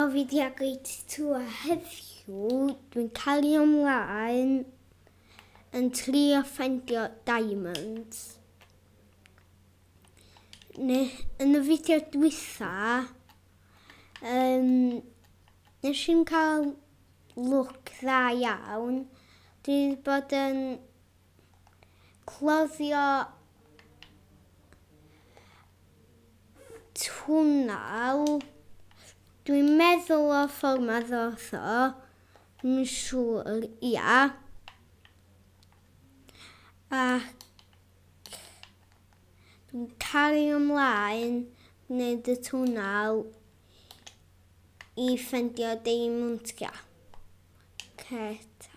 O fi di agoi tatu a heddiw dwi'n cael ei ymlaen yn trio ffendio diamonds. Ne, yn y fideo dwytha, um, nes i'n cael look dda iawn. Dwi wedi bod yn cloddio twnnel. Dwi'n meddwl o ffordd ma ddoth o. Yn siŵr, ia. Ac dwi'n cario ymlaen wneud y twnnel i ffendio deimwntia. Ceta.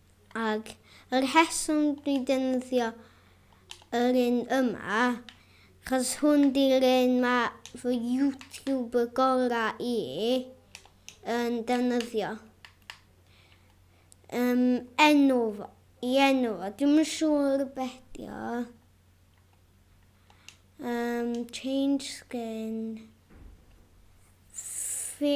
Ac y rheswm dwi defnyddio yr un yma, chos hwn di'r un ma fy YouTuber gora i yn defnyddio. Yym, enw fo, i enw fo, dwi'm yn siŵr be dio. Yym, change skin. Fi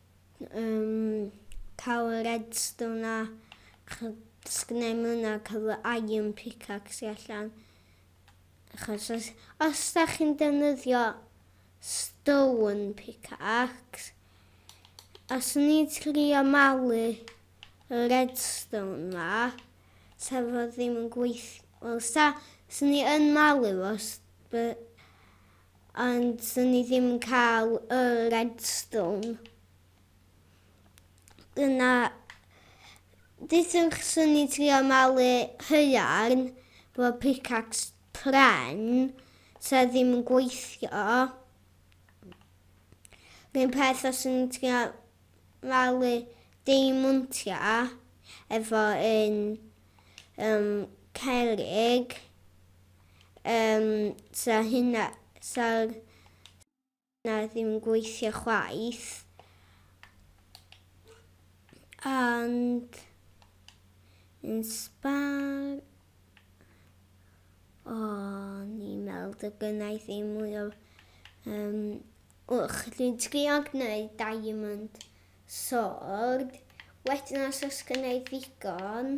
Yym ca'l y redstone a ch- os gennai mwy na ca'l y iron pickaxe allan. Achos os os dach chi'n defnyddio stone pickaxe os o'n i'n trio malu y redstone 'ma sa fo ddim yn gweith- wel sa swn i yn malu fo os by- Ond swn i ddim yn cael y Redstone. Dyna... Dyswch swn i trio malu haearn fo pickaxe pren sa ddim yn gweithio. Rhyn peth os swn i'n trio malu deimontia efo un um, cerig. Yym, sa hynna, sa hynna ddim yn gweithio chwaith. And yn sbar, o, ni'n meddwl dy gynna i ddim mwy o, um, wch, dwi'n trio gwneud diamond sword, wedyn os oes gynna i ddigon,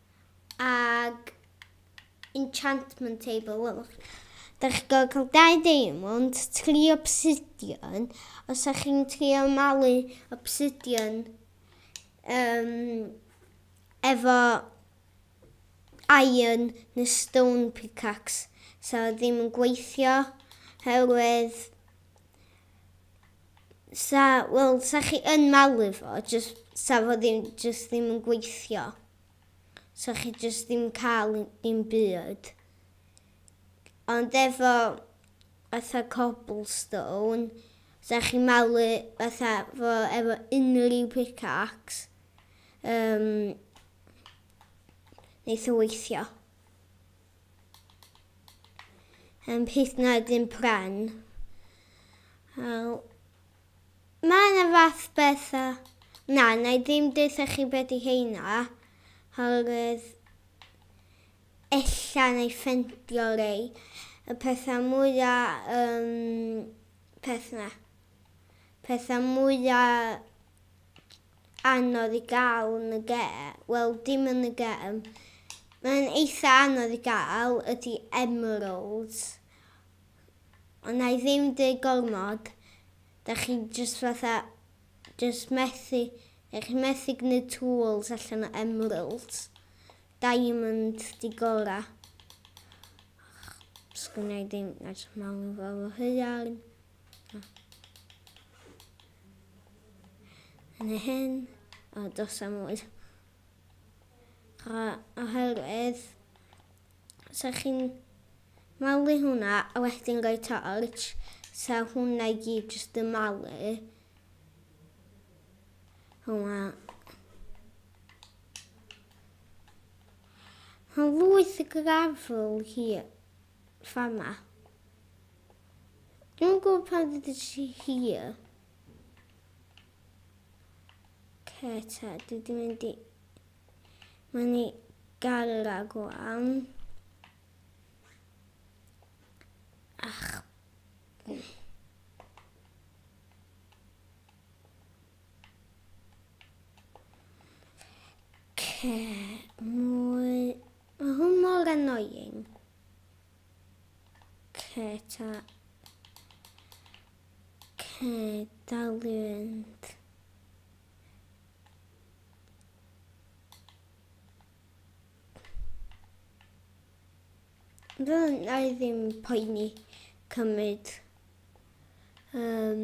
ag enchantment table, welwch chi. Dach chi'n gorfod cael dau diamond, tri obsidian, os ydych chi'n trio malu obsidian um, efo iron neu stone pickaxe, so ddim yn gweithio, herwydd Sa, wel, sa chi yn malu fo, just, sa fo ddim, just ddim yn gweithio. Sa chi just ddim cael un byd. Ond efo fatha cobblestone, sa chi malu fatha fo efo unrhyw pickaxe, um, neith o weithio. Yn peth na dim pren. Mae yna fath bethau. Na, na i ddim deutha chi beth i heina. Horwydd ella na i ffendio rei. Y pethau mwya um, peth na. Pethau mwya anodd i gael yn y ge-, wel dim yn y gem, mae'n eitha anodd i gael ydy emeralds, ond na i ddim dweud gormod, da chi jyst fatha, jyst methu, da chi methu gwneud tools allan o emeralds, diamond di gora. Sgwna i ddim edrych mewn i fo fo hya'n. yn y hyn a dos am oed. Oherwydd, sa chi'n malu hwnna a wedyn gael torch, sa hwnna i gyd jyst yn malu hwnna. Mae lwyth y grafl hi fama. Dwi'n yn gwybod pan ddod ti hir. Ce ta, dwi di mynd i... Mae'n i gael ag o am. Ach... Ce, mwy... Mae hwn mor annoying. Ce ta... Ce dalu fynd. Fel na i ddim poeni cymryd um,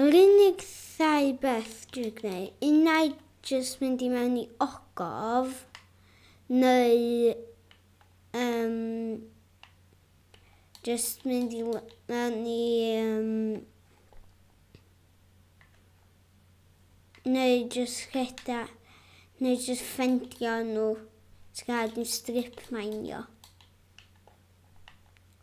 Yr unig ddau beth dwi'n gwneud, unai jyst mynd i mewn i ogof, neu um, jyst mynd i mewn i... Um, neu jyst rheda, neu jyst ffendio nhw, ti'n cael yn strip minio.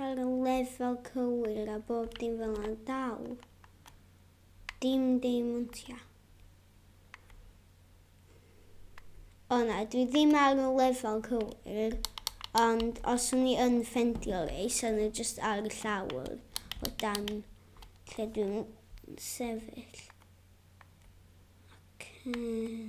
Ar y lefel cywir a bob dim fel yna'n dal dim deimontia. O na, dwi ddim ar y lefel cywir, ond os o'n i yn ffendio rei, sa'n nhw just ar y llawr o dan lle dwi'n sefyll. Okay.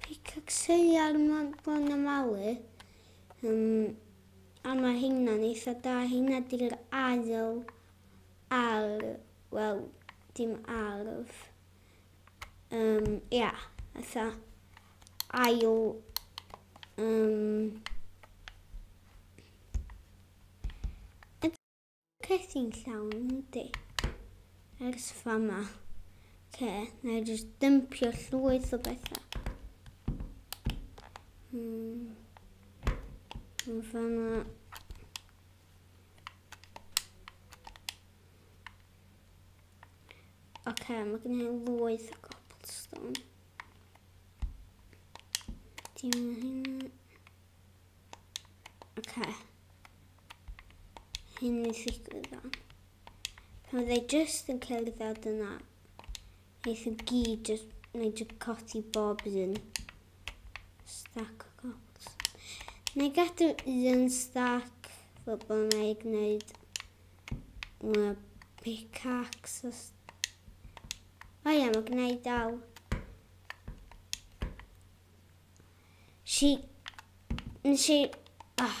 Picacseiliau'r Morglon y Malu. Um, a mae hynna'n eitha da. Hynna di'r ail ar, wel, dim arf. Um, ia, eitha ail... Um, Cais i'n llawn, yndi. Ers fama. Ce, na i jyst dympio llwyth o bethau. Hmm. Yn fama. Ok, mae gen i lwyth o cobblestone. Dim hyn. Ok. Hyn i ddigwydd fan. Pan fydde i just yn cael ei ddod yna, eith i gyd just wneud y codi bob un. Stack o cobblestone. Neu gadw un stack fel bod yna i gwneud Mae pickaxe... O ia, mae gennau dal. Si... Nes i... Oh.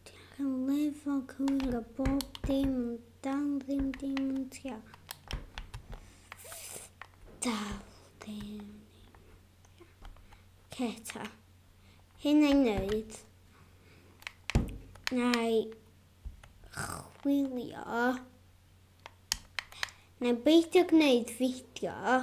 Diolch yn lefog hwyl a bob dim yn dal ddim dim yn tia. Dal dim. Ceta. Hyn ei wneud. Neu chwilio. Neu beidio gwneud fideo.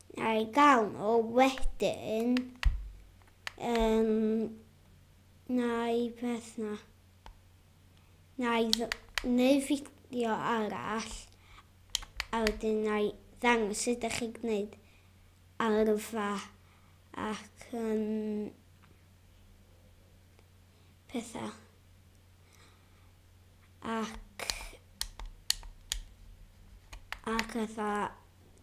A'i gael nhw wedyn yn neu peth na. Neu, neu fideo arall a wedyn neu ddangos sut ydych chi'n gwneud arfa ac yn pethau. Ac ac fatha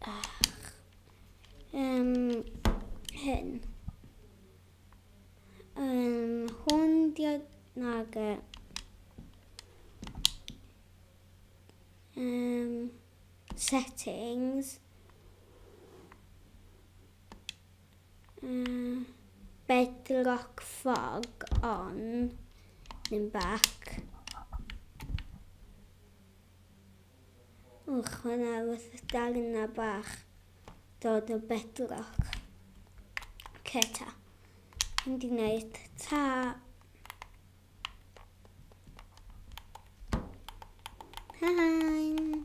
Ach, um, hyn. Um, hwn diod nag e. Um, settings. Um, bedrock fog on in back. Wch, mae yna wrth y darna bach dod o bedrock. Ce ta. Mynd i wneud ta. Hain.